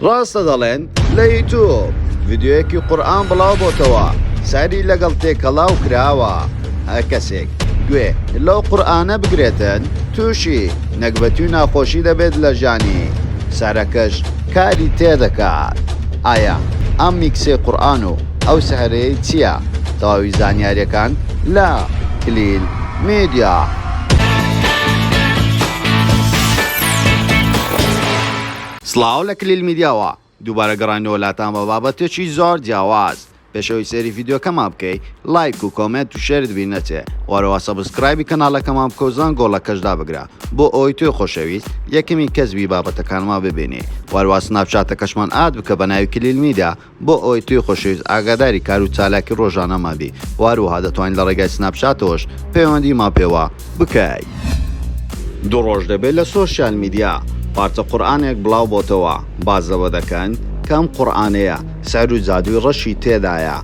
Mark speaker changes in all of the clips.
Speaker 1: ڕاستە دەڵێن لە یوتوب ڤیدیۆیەکی قورئان بڵاو بۆتەوە سەری لەگەڵ تێکەڵاو کراوە هەر کەسێک گوێ لەو قورئانە بگرێتن تووشی نەگبەتی و ناخۆشی دەبێت لە ژانی سەرەکەش کاری تێدەکات ئایا ئەم میکسێ قورئان و ئەو سەهرەیە چییە تەواوی زانیاریەکان لە کلیل میدیا. سڵاو لە کلیل میدیاوە دووبارە گەڕاینەوە لاتان بە بابەتێکی زۆر جیاواز پێش ئەوەی سەیری ڤیدیۆکەمان بکەی لایک و کۆمێنت و شێرت بیر نەچێ وەرەوە سەبسکرایبی کەناڵەکەمان بکەو زەنگۆڵەکەش دابگرە بۆ ئەوەی تۆی خۆشەویست یەکەمین کەس بی بابەتەکانمان ببینی وەرەوە سناپچاتەکەشمان ئاد بکە بە ناوی کلیل میدیا بۆ ئەوەی توی خۆشەویست ئاگاداری کار و چالاکی ڕۆژانەمان بی واروها دەتوانی لە ڕێگای سناپ چاتەوەش پەیوەندی مان پێوە بکەی. دوو ڕۆژ دەبێت لە سۆشیال میدیا پارچە قورئانێک بڵاو بۆتەوە باس لەوە دەکەن کە ئەم قورئانەیە سحر و جادووی ڕەشی تێدایە،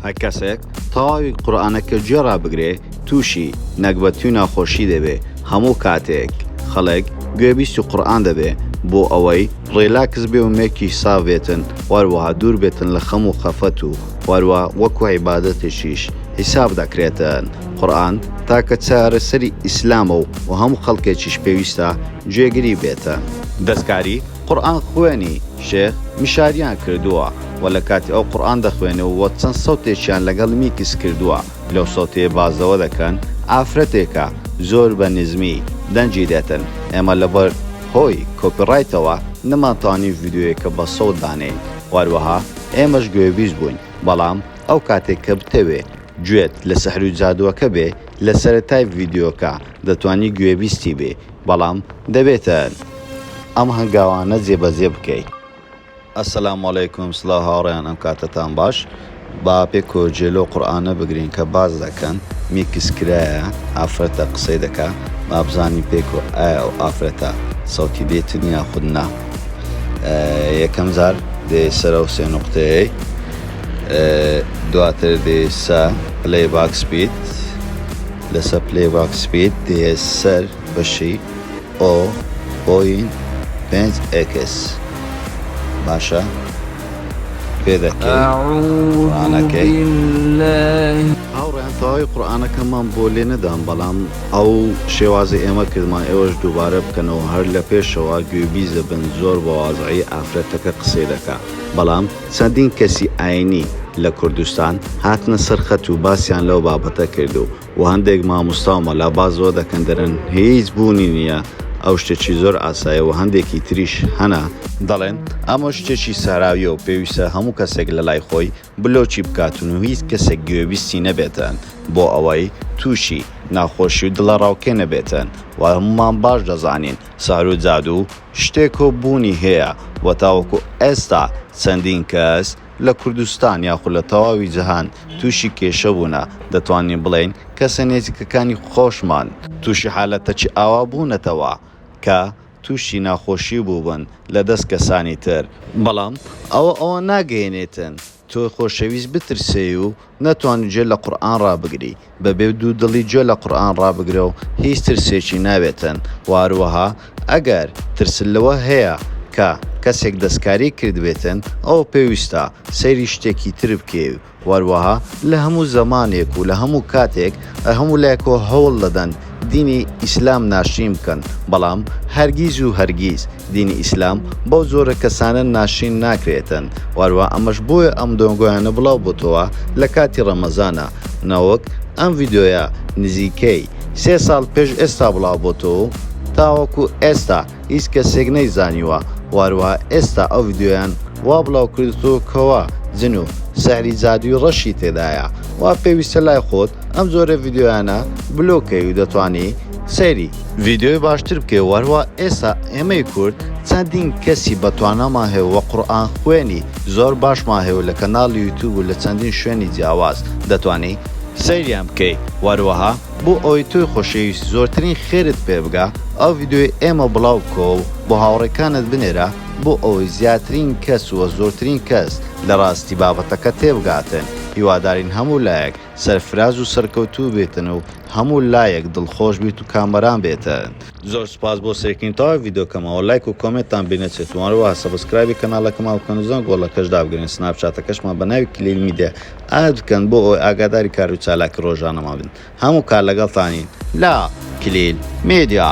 Speaker 1: هەر کەسێک تەواوی قورئانەکە گوێ ڕابگرێ تووشی، نەگبەتی و ناخۆشی، دەبێ، هەموو کاتێک خەڵک گوێ بیستی قورئان دەبێ بۆ ئەوەی ڕیلاکس بێ و مێکیش ساف بێتن وەروەها دوور بێتن لە خەم و خەفەت و وەروە وەکو عیبادەتێکیش حیساب دەکرێتن قورئان تاکە چارەسەری ئیسلامە و هەموو خەڵکێکیش پێویستە گوێگری بێتن. دەستکاری قورئان خوێنی شێخ مشاریان کردووە و لە کاتی ئەو قورئان دەخوێنێ و چەند سەوتێکیان لەگەڵ میکس کردووە لەو سەوتەیە باس لەوە دەکەن ئافرەتێکە زۆر بە نزمی دەنگی دێتن ئێمە لەبەر هۆی کۆپی ڕایتەوە نەمانتوانی ڤیدیۆیەکە بە سەوت دانێین و هەروەها ئێمەش گوێبیست بووین بەڵام ئەو کاتێک کە بتەوێ گوێت لە سحر و جادووەکە بێ لە سەرەتای ڤیدیۆکە دەتوانی گوێبیستی بێ بەڵام دەبێتە ئەم هەنگاوانە جێبەجێ بکەیت. السلام علیکم سڵاو هاوڕێیان ئەم کاتەتان باش با پێکۆ جێ لۆ قورئانە بگرین کە باس دەکەن میکس کرایە ئافرەتە قسەی دەکا با بزانین پێکۆ ئایا ئەو ئافرەتە سەوتی بێتن یاخود نا یەکەم جار دێ سەرە و سێ نقطەیەی دواتر دێ سە پلەی باکس بیت لەسەر پلەی ڕاک سپید دێیە سەر بەشی ئۆ بۆین پێنج ئێکس باشە پێدەکەی هاوڕێیان تەواوی قورئانەکەمان بۆ لێ نەدام بەڵام ئەو شێوازی ئێمە کردمان ئێوەش دووبارە بکەنەوە هەر لە پێشەوە گوێبیس دەبن زۆر بە وازعی ئافرەتەکە قسەی دەکا بەڵام چەندین کەسی ئایینی لە کوردستان هاتنە سەر خەت و باسیان لەو بابەتە کرد و و هەندێک ماموستا و مەلا باز لەوە دەکەن دەرێن هیچ بوونی نییە ئەو شتێکی زۆر ئاسایە و هەندێکی تریش هەنە دەڵێن ئەمە شتێکی ساراویە و پێویستە هەموو کەسێک لە لای خۆی بلۆکی بکاتن و هیچ کەسێک گوێبیستی نەبێتن بۆ ئەوەی تووشی ناخۆشی و دڵەڕاوکێ نەبێتن و هەموومان باش دەزانین سحر و جادوو شتێکۆ بوونی هەیە و تاوەکو ئێستا چەندین کەس لە کوردستان یاخود لە تەواوی جەهان تووشی کێشە بوونە، دەتوانین بڵێین کەسە نێزیکەکانی خۆشمان، تووشی حالەتەکی ئاوا بوونەتەوە کە تووشی ناخۆشی بووبن لە دەست کەسانی تر، بەڵام ئەوە ئەوان ناگەیەنێتن تۆ خۆشەویست بترسێی و نەتوانی گوێ لە قورئان ڕابگری، بەبێ دوو دڵی گوێ لە قورئان ڕابگرە و هیچ ترسێکی نابێتن، وەهەروەها ئەگەر ترست لەوە هەیە کە کەسێک دەستکاریت کردبێتن ئەوە پێویستە سەیری شتێکی تر بکەی و وەروەها لە هەموو زەمانێک و لە هەموو کاتێک هەموو لایەکەوە هەوڵ دەدەن دینی ئیسلام ناشرین بکەن، بەڵام هەرگیز و هەرگیز دینی ئیسلام بەو جۆرە کەسانە ناشرین ناکرێتن و هەروەها ئەمەش بۆیە ئەم دەنگۆیانە بڵاو بۆتەوە لە کاتی ڕەمەزانا نەوەک ئەم ڤیدیۆیە نزیکەی سێ ساڵ پێش ئێستا بڵاو بۆتەوە و تاوەکو ئێستا هیچ کەسێک نەیزانیوە وهروها ئێستا ئەو ڤیدیۆیان وا بڵاو کردتوە کەوا جن و سحری جادوی ڕەشی تێدایە وا پێویستە لای خۆت ئەم جۆرە ڤیدیۆیانە بلۆک کەی و دەتوانی سەیری ڤیدیۆی باشتر بکەی وهروها ئێستا ئێمەی کورد چەندین کەسی بەتوانامان هەیە و قورئان خوێنی زۆر باشمان هەیە و لە کەناڵی یوتوب و لە چەندین شوێنی جیاواز دەتوانی سەیریان بکەی وهروها بۆ ئەوەی تۆی خۆشەویست زۆرترین خێرت پێ بگا ئەو ڤیدیۆی ئێمە بڵاو بکەوە و بۆ هاوڕێکانت بنێرە بۆ ئەوەی زیاترین کەس وە زۆرترین کەس لە ڕاستی بابەتەکە تێبگاتن هیوادارین هەموو لایەک سەرفراز و سەرکەوتوو بێتن و هەموو لایەک دڵخۆش بیت و کامەران بێتن. زۆر سوپاس بۆ سەیرکردنی تەواوی ڤیدیۆکەمەوە لایک و کۆمێنتتان بیر نەچێت و هەروەها سەبسکرایبی کەناڵەکەمان بکەن و زەنگ گۆڵەکەش دابگرن سناپ چاتەکەشمان بە ناوی کلیل میدیا ئاست بکەن بۆ ئەوەی ئاگاداری کار و چالاکی ڕۆژانەمان بن هەموو کات لەگەڵتانین لە کلیل میدیا.